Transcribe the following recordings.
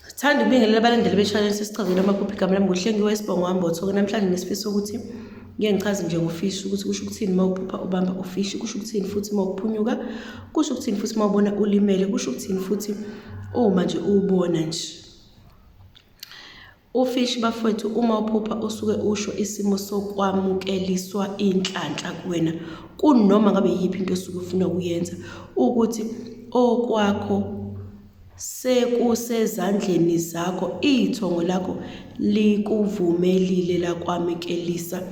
Sithanda ukubingelela abalandeli be-channel sesichazela amaphupho igama lami nguhlengiwe isibongo wami bothoke namhlanje nesifiso ukuthi ngeke ngichaze nje ngofishi ukuthi kusho ukuthini uma uphupha ubamba ufishi kusho ukuthini futhi uma uphunyuka kusho ukuthini futhi uma ubona ulimele kusho ukuthini futhi uma nje uwubona nje Ufish bafwethu uma uphupha usuke usho isimo sokwamukeliswa inhlanhla kuwena kunoma ngabe yiphi into osuke ufuna ukuyenza ukuthi okwakho sekusezandleni zakho ithongo lakho likuvumelile lakwamukelisa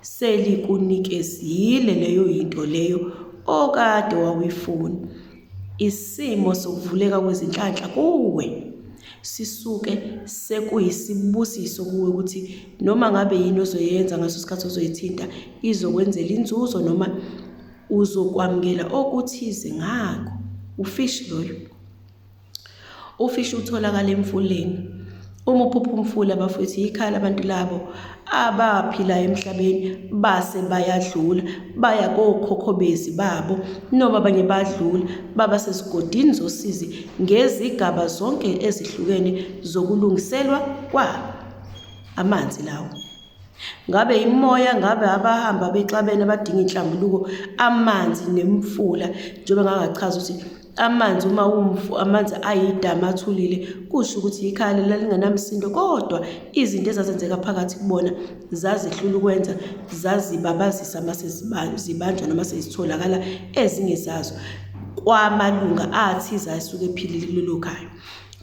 Selikunikez-ile leyo yinto leyo okade wawuyifuna. Isimo sokuvuleka kwezinhlanhla kuwe sisuke sekuyisibusiso kuwe ukuthi noma ngabe yini ozoyenza ngaso sikhathi ozoyithinta izokwenzela inzuzo noma uzokwamukela okuthize ngako. Ufish loyo. Ufishi utholakala emfuleni. Uma uphupha umfula bafowethu yikhaya labantu labo abaphila emhlabeni base bayadlula baya kokhokho bezi babo noma abanye badlula baba sesigodini zosizi ngezigaba zonke ezihlukene zokulungiselwa kwabo amanzi lawo ngabe imoya ngabe abahamba bexabene abadinga inhlambuluko amanzi nemfula njengoba ngangachaza ukuthi Amanzi uma umfu amanzi ayidamu athulile kusho ukuthi yikhaya leli lalingenamsindo kodwa izinto ezazenzeka phakathi kubona zazihlula ukwenza zazibabazisa uma seziba- zibanjwa noma sezitholakala ezinye zazo kwamalunga athize asuke ephilile kulelo khaya.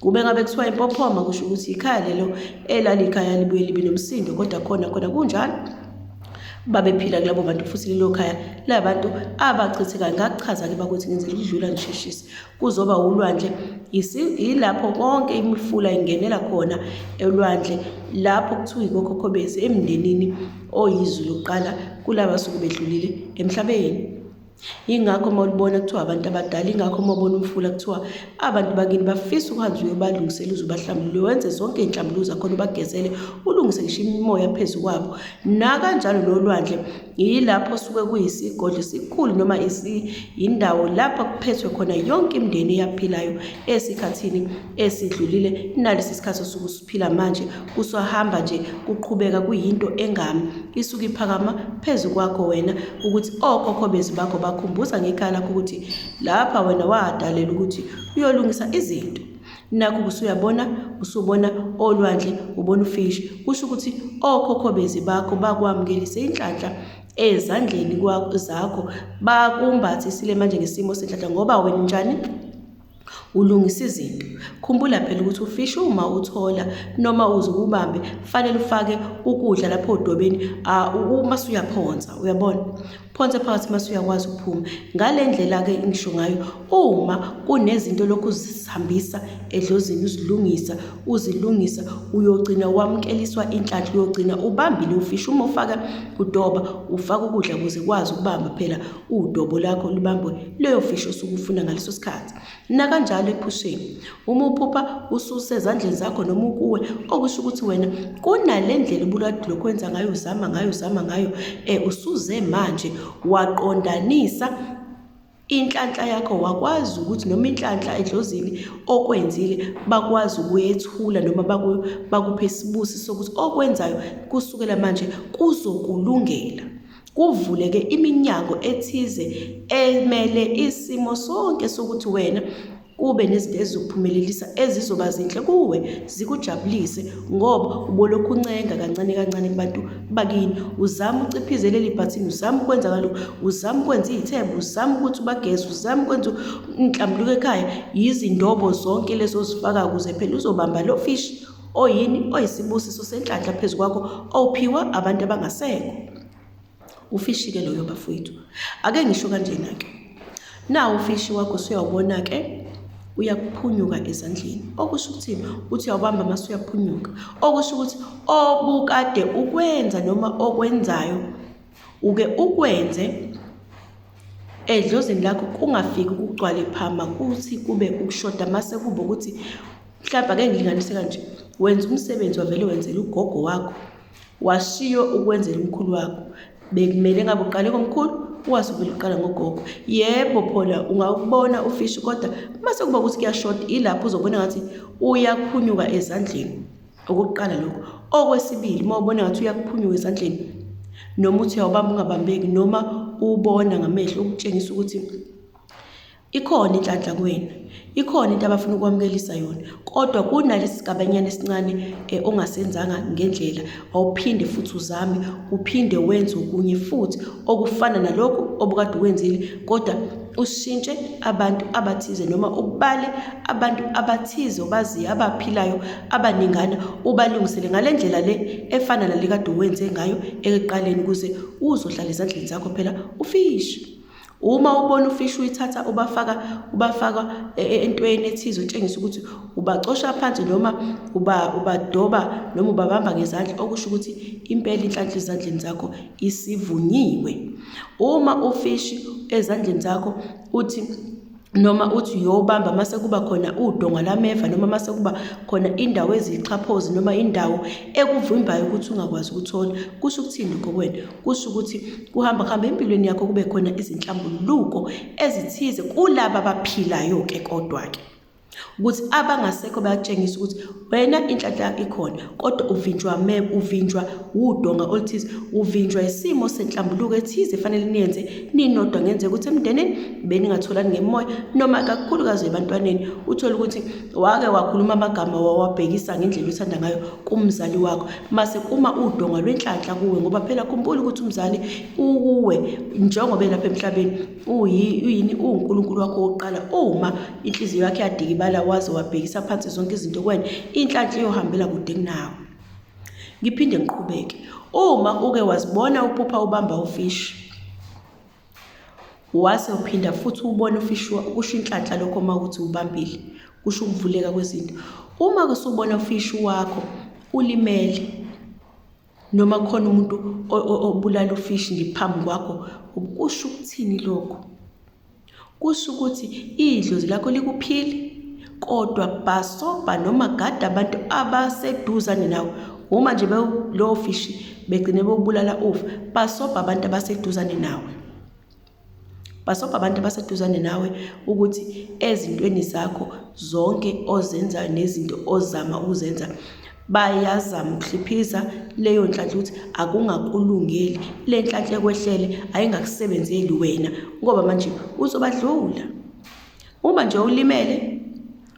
Kube ngabe kuthiwa impophoma kusho ukuthi ikhaya lelo elalikhaya libuye libe nomsindo kodwa khona khona kunjalo babephila kulabo bantu futhi lelo khaya la bantu abachithekayo ngakuchaza-ke bakuthi ngenzela ukudlula ngisheshise kuzoba wulwandle yilapho konke imifula ingenela khona elwandle lapho kuthiwa ikokhokho bethu emndenini oyizwi lokuqala kulaba suke bedlulile emhlabeni Yingakho uma ulibona kuthiwa abantu abadala, yingakho uma ubona umfula kuthiwa abantu bakini bafisa ukuhanjwa uyobalungisela uze ubahlambulule, wenze zonke iy'nhlambuluko zakhona ubagezele, ulungise ngisho imimoya phezu kwabo. Nakanjalo nolwandle yilapho osuke kuyisigodlo esikhulu noma yindawo lapho kuphethwe khona yonke imindeni eyaphilayo esikhathini esidlulile nalesi sikhathi osuke Phila manje kuswahamba nje kuqhubeka kuyinto engami isuke iphakama phezu kwakho wena ukuthi okhokho bezi bakho bakhumbuza ngekhaya lakho ukuthi lapha wena wadalela ukuthi uyolungisa izinto nakho kusuyabona usubona olwandle ubona ufishi kusho ukuthi okhokho bezi bakho bakwamukelise inhlanhla ezandleni zakho bakumbathi sile manje ngesimo senhlanhla ngoba wena njani Ulungisa izinto. Khumbula phela ukuthi ufishi uma uthola noma uze ubambe kufanele ufake ukudla lapho odobeni uma suyaphonsa uyabona phonse phakathi uma suyakwazi ukuphuma ngale ndlela-ke ngisho ngayo uma kunezinto lokhu uzihambisa edlozini uzilungisa uzilungisa uyogcina wamukeliswa inhlanhla uyogcina ubambile ufishi uma ufaka udoba ufaka ukudla ukuze kwazi ukubamba phela udobo lakho lubambwe leyo fishi osuke ufuna ngaleso sikhathi nakanjalo ephusheni uma uphupha ususezandleni zakho noma ukuwe okusho ukuthi wena kunale ndlela ubulwadilo kwenza ngayo uzama ngayo uzama ngayo um usuze manje waqondanisa inhlanhla yakho wakwazi ukuthi noma inhlanhla edlozini okwenzile bakwazi ukuyethula noma bakuphe isibusi sokuthi okwenzayo kusukela manje kuzokulungela kuvuleke iminyango ethize emele isimo sonke sokuthi wena kube nezinto ezizokuphumelelisa ezizoba zinhle kuwe zikujabulise ngoba ubolokhu uncenga kancane kancane kubantu bakini uzama uciphize leli bhathini uzama ukwenza kaloku uzama ukwenza iy'themba uzama ukuthi ubageze uzama ukwenza inhlambuluko ekhaya yizindobo zonke lezo zifaka kuze phela uzobamba lo fishi oyini oyisibusiso senhlanhla phezu kwakho owuphiwa abantu abangasekho ufishike loyo bafowethu ake ngisho kanjena-ke nawo ufishi wakho usuyawubona-ke uyaphunyuka ezandleni okusho ukuthi uthi uyawubamba mase uyaphunyuka okusho ukuthi obukade ukwenza noma okwenzayo uke ukwenze edlozini lakho kungafiki ukugcwale phama kuthi kube ukushoda mase kube ukuthi mhlawumbe ake ngilinganise kanje wenza umsebenzi wavele wenzela ugogo wakho washiyo ukwenzela umkhulu wakho bekumele ngabe uqale komkhulu ukwazi uvele uqala ngogogo yebo phona ungawubona ufishi kodwa uma sekuba ukuthi kuyashoda ilapho uzobona ngathi uyaphunyuka ezandleni okokuqala lokho okwesibili uma ubona ngathi uyakuphunyuka esandleni noma uthi awubamba ungabambeki noma ubona ngamehlo ukutshengisa ukuthi ikhona inhlanhla kuwena ikhona into abafuna ukwamukelisa yona kodwa kunalesi sigabanyana esincane eh, ongasenzanga ngendlela awuphinde futhi uzame uphinde wenze okunye futhi okufana nalokhu obukade ukwenzile kodwa ushintshe abantu abathize noma ubale abantu abathize obaziyo abaphilayo abaningana ubalungisele ngale ndlela le efana nale kade uwenze ngayo ekuqaleni ukuze uzohlala ezandleni zakho phela ufishi uma ubona ufishi uyithatha ubafaka ubafaka e, e, entweni ethize utshengisa ukuthi ubacosha phansi noma uba ubadoba noma ubabamba ngezandla okusho ukuthi impela inhlanhla ezandleni zakho isivunyiwe uma ufishi ezandleni zakho uthi noma uthi uyobamba mase kuba khona udonga lameva noma mase kuba khona indawo eziyixhaphozi noma indawo ekuvimbayo ukuthi ungakwazi ukuthola kusho ukuthini lokho kwena kusho ukuthi kuhamba kuhamba empilweni yakho kube khona izinhlambuluko ezithize kulaba abaphilayo-ke kodwa-ke ukuthi abangasekho bayakutshengisa ukuthi wena inhlanhla yakho ikhona kodwa uvinjwa me uvinjwa wudonga oluthize uvinjwa isimo senhlambuluko ethize efanele niyenze ninodwa ngenzeka ukuthi emndenini beningatholani ngemoya noma kakhulukazi ebantwaneni uthole ukuthi wake wakhuluma amagama wawabhekisa ngendlela othanda ngayo kumzali wakho mase kuma udonga lwenhlanhla kuwe ngoba phela khumbula ukuthi umzali ukuwe njengoba elapha emhlabeni uyini uwuNkulunkulu wakho wokuqala uma inhliziyo yakho yadikibala waze wabhekisa phansi zonke izinto kwena inhlanhla iyohambela kude kunawe ngiphinde ngiqhubeke uma uke wazibona uphupha ubamba ufishi wase uphinda futhi ubone ufishi kusho inhlanhla lokho uma ukuthi ubambile kusho ukuvuleka kwezinto uma kusubona ufishi wakho ulimele noma khona umuntu obulala ufishi nje phambi kwakho kusho ukuthini lokho kusho ukuthi idlozi lakho likuphile kodwa bhasobha noma gada abantu abaseduzane nawe uma nje lowo fishi begcine bewubulala ufa bhasobha abantu abaseduzane nawe Basobha abantu abaseduzane nawe ukuthi ezintweni zakho zonke ozenzayo nezinto ozama ukuzenza bayazama ukuhliphiza leyo nhlanhla ukuthi akungakulungeli le nhlanhla ekwehlele ayingakusebenzeli wena ngoba manje uzobadlula uma nje ulimele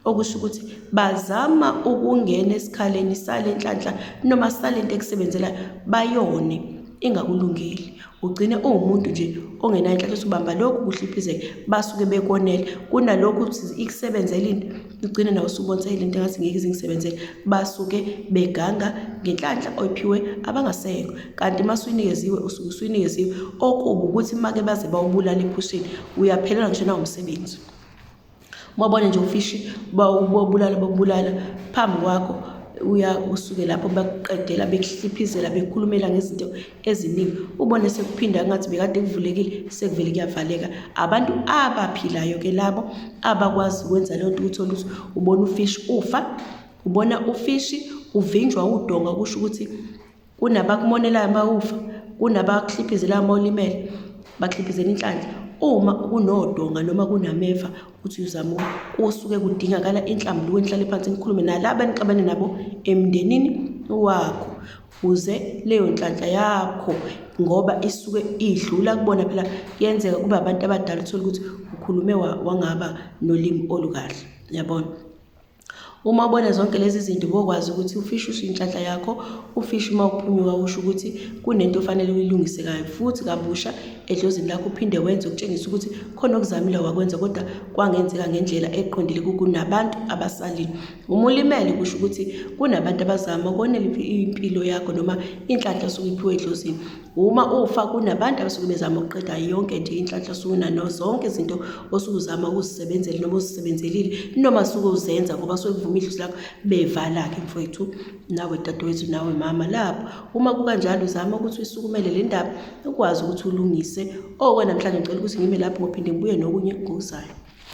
okusho ukuthi bazama ukungena esikhaleni sale nhlanhla noma sale nto ekusebenzelayo bayone ingakulungeli ugcine uwumuntu nje ongenanhlanhla usubamba lokhu kuhliphizeka basuke bekonele kunalokhu ukuthi ikusebenzela into ugcine nawe usubonsayile into engathi ngeke izingisebenzele basuke beganga ngenhlanhla oyiphiwe abangasekho kanti uma suyinikeziwe usuke usuyinikeziwe okubi ukuthi make baze bawubulala ephusheni uyaphelelwa ngisho nawumsebenzi Umabone nje ufishi bobulala bobulala phambi kwakho uya usuke lapho bakuqedela bekuhliphizela bekhulumela ngezinto eziningi ubone sekuphinda ngathi bekade kuvulekile sekuvele kuyavaleka abantu abaphilayo ke labo abakwazi ukwenza leyo nto ukuthi oluthi ubona ufishi ufa ubona ufishi uvinjwa udonga kusho ukuthi kunabakumonelayo mawufa kunabakuhliphizelayo mawulimele bakuhliphizela inhlanhla uma kunodonga noma kunameva uthi uyozama kusuke kudingakala inhlambuluko enhlale phansi nikhulume nalaba enixabane nabo emndenini wakho uze leyo nhlanhla yakho ngoba isuke idlula kubona phela kuyenzeka kube abantu abadala uthole ukuthi ukhulume wangaba nolimi olukahle yabona Uma ubona zonke lezi zinto ubokwazi ukuthi ufishi usho inhlanhla yakho, ufishi uma uphunyuka usho ukuthi kunento ofanele uyilungise kayo futhi kabusha edlozini lakho uphinde wenze ukutshengisa ukuthi khona okuzamile wakwenza kodwa kwangenzeka ngendlela eqondile kunabantu abasalile. Uma ulimele kusho ukuthi kunabantu abazama ukonela impilo yakho noma inhlanhla osuke iphiwe edlozini. Uma ufa kunabantu abasuke bezama ukuqeda yonke nje inhlanhla suna no zonke izinto osukuzama ukuzisebenzela noma uzisebenzelile noma suke uzenza ngoba suke kuvuma idlozi lakho bevala ke mfowethu nawe dadewethu nawe mama lapho uma kukanjalo uzama ukuthi usukumele le ndaba ukwazi ukuthi ulungise okwanamhlanje ngicela ukuthi ngime lapho ngophinde ngibuye nokunye ngokuzayo